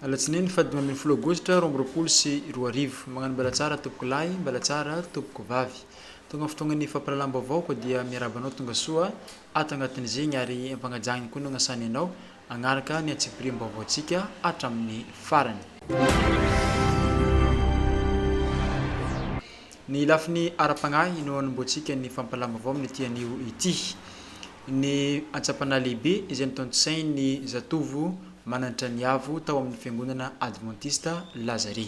Alatsinainy faha dimy ambin'ny folo aogositra roa amby roapolo sy roa arivo. Magnano mbela tsara tompoko lahy, mbela tsara tompoko vavy. Tonga ny fotoagnan'ny fampirahalahambaovao koa dia miarahaba anao tongasoa ato agnatin'izegny ary ampagnajagny koa ny ognasany anao Hanaraka ny antsipiriam-baovaontsika hatramin'ny farany. Ny lafiny ara-pagnahy no hanombohantsika ny fampalam-baovao amin'ity anio ity. Ny antsa-panahy lehibe izay notontosain'ny zatovo manantra ny avo tao amin'ny fiangonana advantista Lazare.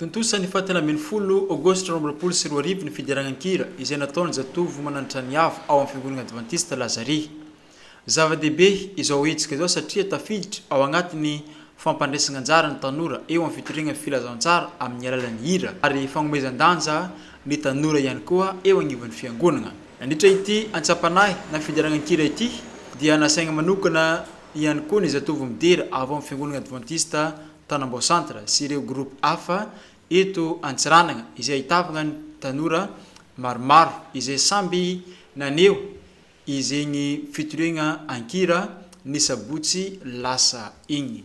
Tontosa ny faha telo ambin'ny folo Aogositra roa amby roapolo sy roa arivo ny fideranan-kira izay nataon'ny zatovo mananitra ny Avo ao amin'ny Fiangonana Advantista Lazare. Zava-dehibe izao hetsika izao satria tafiditra ao anatin'ny fampandraisana anjara ny tanora eo amin'ny fitoriana ny filazantsara amin'ny alalan'ny hira ary fanomezan-danja ny tanora ihany koa eo anivon'ny fiangonana. Nandritra ity antsampanahy na fideranan-kira ity dia nasaina manokana ihany koa ny zatovo midera avy ao amin'ny fiangonana advantista Tanambao Centre sy ireo groupe hafa eto Antsiranana izay ahitavana ny tanora maromaro izay samby naneho Izegny fitoriagna an-kira ny sabotsy lasa igny.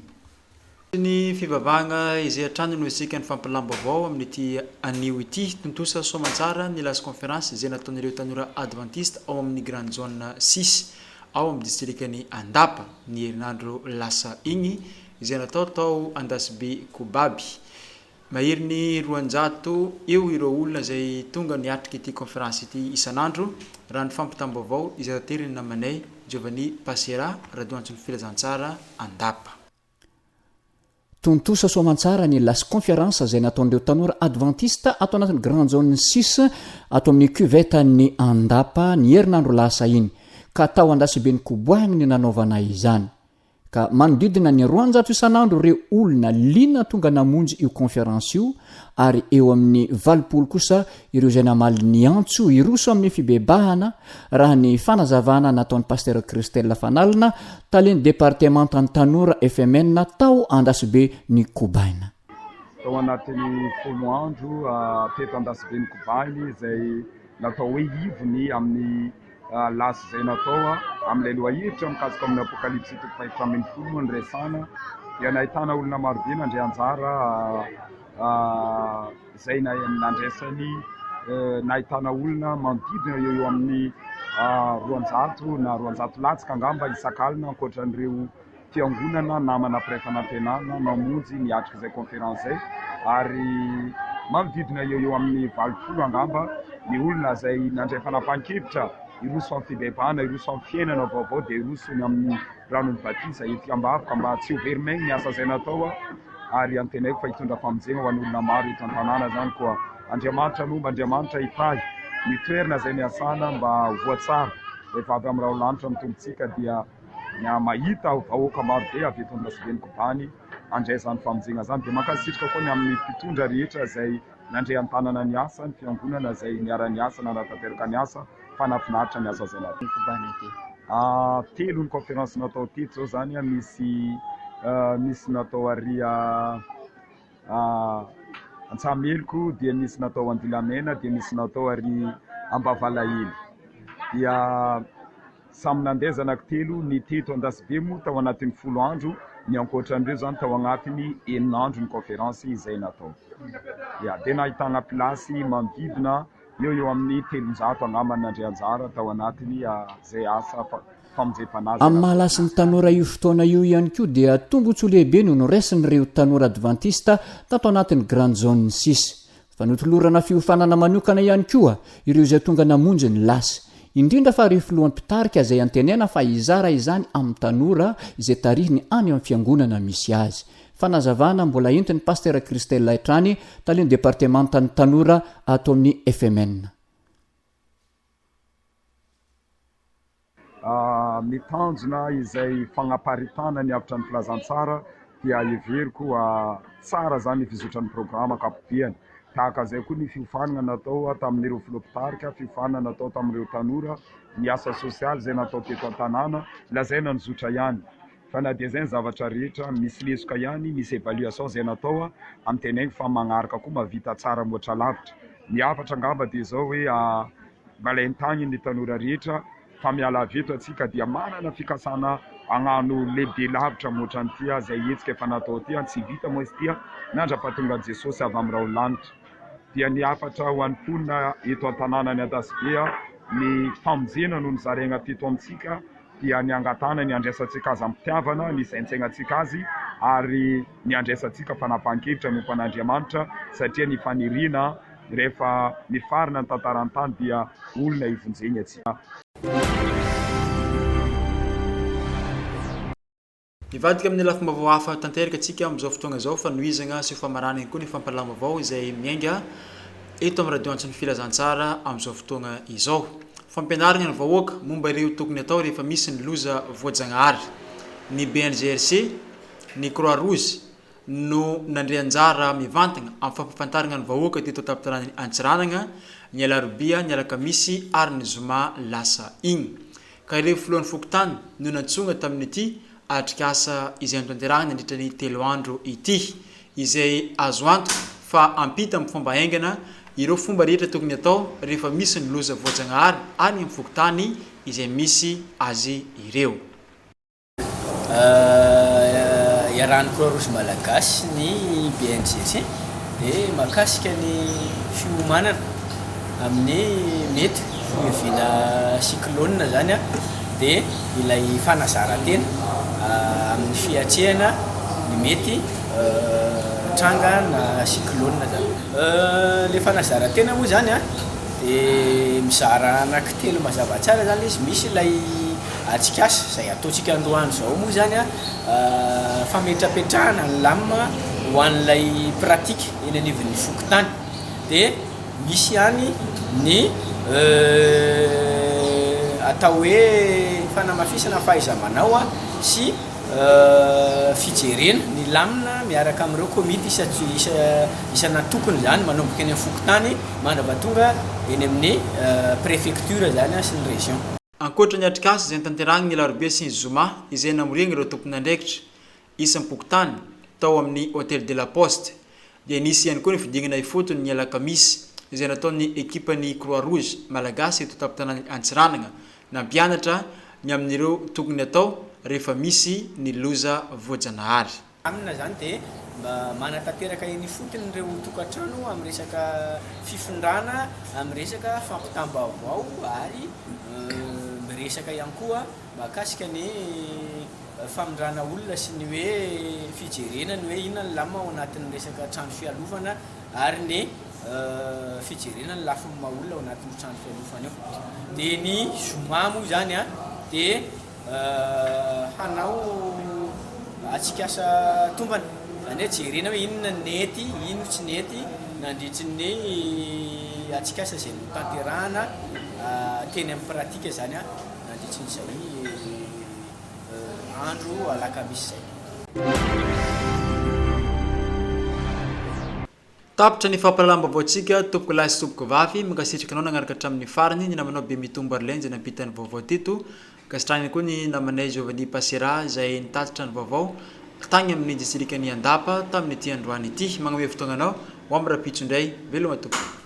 Toy ny fivavahagna izay hatrany no isika nifampilam-baovao amin'ity anio ity. Tontosa soamantsara ny Last Conference izay nataon'ireo tanora Advantista ao amin'ny Grand Zone six ao amin'ny Distrikan'i Andapa ny herinandro lasa igny izay natao tao Andasibe Kobaby. Mahery ny roanjato eo ireo olona izay tonga niatrika ity kaonferansy ity isan'andro, raha ny fampitam-baovao izay taterin'ny namanay, Giovanni Passera, Radoantson'ny Filazantsara, Andapa. Tontosa soamantsara ny Las Conference izay nataon'ireo tanora advantista ato anatin'ny Grand Zone six ato amin'ny Cuvette an'ny Andapa ny herinandro lasa iny, ka tao Andasibe Nkoboahiny nanaovana izany. ka manodidina ny roanjato isan'andro ireo olona liana tonga namonjy io conférence io ary eo amin'ny valopolo kosa ireo izay namaly ny antso hiroso amin'ny fibebahana raha ny fanazavana nataon'i Pasitera Christelle Fanalina, Talen'ny Departemantan'ny Tanora FMN tao Andasibe ny Kobaina. Tao anatin'ny folo andro teto Andasibe ny Kobaina izay natao hoe ivony amin'ny. Laza izay natao amin'ilay lohahevitra mikasika ny Apokalypsy toko fahefatra ambin'ny folo moa no resahana dia nahitana olona marobe nandray anjara izay nandraisany nahitana olona manodidina eo amin'ny roanjato na roanjato latsaka angamba isak'alina ankoatra an'ireo Fiangonana namana mpiray fanantenana mamonjy miatrika izay conférence izay ary manodidina eo eo amin'ny valopolo angamba ny olona izay nandray fanapahan-kevitra hiroso amin'ny fibebahana, hiroso amin'ny fiainana vaovao dia hiroso ny amin'ny ranon'ny batisa. Entiko am-bavaka mba tsy ho very maigny ny asa izay natao ary antenaiko fa hitondra famonjena ho an'olona maro eto an-tanàna izany koa. Andriamanitra nomba, Andriamanitra hitahy ny toerana izay niasana mba ho voatsara rehefa avy amin'ny Raho lanitra ny tombontsika dia ny ahy mahita vahoaka maro be avy eto Andrasobe ny kobany handray izany famonjena izany dia mankasitrka koa ny amin'ny mpitondra rehetra izay nandray an-tanana ny asa, ny fiangonana izay niara-niasa nanatanteraka ny asa fa nahafinaritra ny asa izay natao. Telo ny conférence natao teto izao izany, misy misy natao ary Antsahameliko dia nisy natao Andilamena dia nisy natao ary Ambavalahelo dia samy nandeha zanako telo ny teto Andasibe moa tao anatin'ny folo andro ny ankoatran'ireo izany tao anatin'ny enina andro ny conférence izay natao dia nahitana place manodidina eo eo amin'ny telonjato angamba nandray anjara tao anatin'izay asa famonjempanazana. Amin'ny maha lasin'ny tanora io fotoana io ihany koa dia tombontsoa lehibe no noraisin'ireo tanora advantista tato anatin'ny Grand Zone sis. Fa notolorana fiofanana manokana ihany koa ireo izay tonga namonjy ny lasy, indrindra fa ireo filoha mpitarika izay antenaina fa hizara izany amin'ny tanora izay tarihiny any amin'ny fiangonana misy azy. Fanazavana mbola entin'i Pasitera Christella hatrany, talen'ny departemantan'ny tanora ato amin'ny FMN. Ny tanjona izay fagnaparitahana ny avotra ny filazantsara dia heveriko fa tsara izany ny fizotran'ny programa ankapobehany. Tahaka izay koa ny fiofanana natao tamin'ireo filoha mpitarika, fiofanana natao tamin'ireo tanora, ny asa sosialy izay natao teto an-tanàna, lazaina ny zotra ihany. Fa na dia zay ny zavatra rehetra, misy lesoka ihany, misy evaluation zay natao a, am tenaiko fa magnaraka koa mahavita tsara mihoatra lavitra. Ny hafatra angamba dia zao hoe a mba alain tagny ny tanora rehetra fa miala avy eto atsika dia manana fikasana agnano lehibe lavitra mihoatra ny ty a, zay hetsika efa natao ty a, tsy vita moa izy ty a, nandrapatongan jesosy avy am raolanitra. Dia ny hafatra ho any ponina eto an tananany Adasibe a, ny famonjena no nozaraigna teto am tsika, dia ny hangatahana ny handraisantsika azy amim-pitiavana, ny hisaintsainantsika azy, ary ny handraisantsika fanapahan-kevitra manompo an'Andriamanitra, satria ny faniriana rehefa mifarana ny tantaran'ny tany dia olona hivonjeny atsy. Mivadika amin'ny lafim-baovao hafa tanteraka antsika amin'izao fotoana izao, fanohizagna sy famarana ihany koa ny fampahalalam-baovao izay miainga eto amin'ny radio antso ny Filazantsara amin'izao fotoagna izao. Fampianaragna ny vahoaka momba ireo tokony atao rehefa misy ny loza voajagnahary. Ny BNGRC, ny Croix Rouge no nandre anjara mivantagna amin'ny fampafantaragna ny vahoaka teto an-tampon-tanànan'i Antsiranana ny alarobia, ny alakamisy ary ny zoma lasa igny. ka ireo filohan'ny fokontany no nantsoina tamin'ity atrikasa izay notanterahina nandritra ny telo andro ity, izay azo antoka fa hampita amin'ny fomba haingana ireo fomba rehetra tokony hatao rehefa misy ny loza voajanahary any amin'ny fokontany izay misy azy ireo. Iarahan'ny Croix Rouge Malagasy sy ny BNGG dia mahakasika ny fiomanana amin'ny mety ho iaviana cyclone izany dia ilay fanazaran-tena amin'ny fiatrehana ny mety tranga na cyclone izany. Ilay fanazaran-tena moa izany dia mizara anankitelo mazava tsara izany izy, misy ilay. Atsikas, izay ataontsika androany izao moa izany fametrapetrahana ny lam ho an'ilay pratique eny anivon'ny fokontany dia misy ihany ny atao hoe fanamafisana fahaiza-manao sy fijerena ny lam miaraka amin'ireo komity isan'antokony izany manomboka eny amin'ny fokontany mandra-pahatonga eny amin'ny préfecture izany sy ny région. Ankoatra ny atrikasa izay notanterahiny ny alarobia sy ny zoma izay namoriany ireo tomponandraikitra isam-pokontany tao amin'ny Hôtel de la Poste dia nisy ihany koa ny fidingana ifotony ny alakamisy izay nataon'ny ekipan'ny Croix Rouge malagasy eto an-tampon-tanàn'i Antsiranana nampianatra ny amin'ireo tokony atao rehefa misy ny loza voajanahary. Aminy izany dia manatanteraka eny ifotony ireo tokantrano amin'ny resaka fifindrana, amin'ny resaka fampitam-baovao ary miresaka ihany koa mahakasika ny famindrana olona sy ny hoe fijerena ny hoe inona ny lamina ao anatin'ny resaka trano fialofana ary ny fijerena ny lafiny maha olona ao anatin'io trano fialofana io. Dia ny zoma moa izany dia hanao atsikaasa tombana, izany hoe jerena hoe inona no nety, inona no tsy nety nandritry ny atsikaasa izay notanterahana teny amin'ny pratika izany nandritry ny izay andro alakamisy izay. Tapitra ny fampahalalam-baovaontsika tompoko lahy sy tompoko vavy, mankasitraka anao nagnaraka hatramin'ny farany, ny namanao Bemitombo Arlene izay nampita ny vaovao teto, ankasitrahana ihany koa ny namanay Giovanni Passera izay nitatitra ny vaovao tagny amin'ny distrikan'i Andapa tamin'ity androany ity, magnome fotoagnanao ho amin'ny rahampitso indray, veloma tompoko.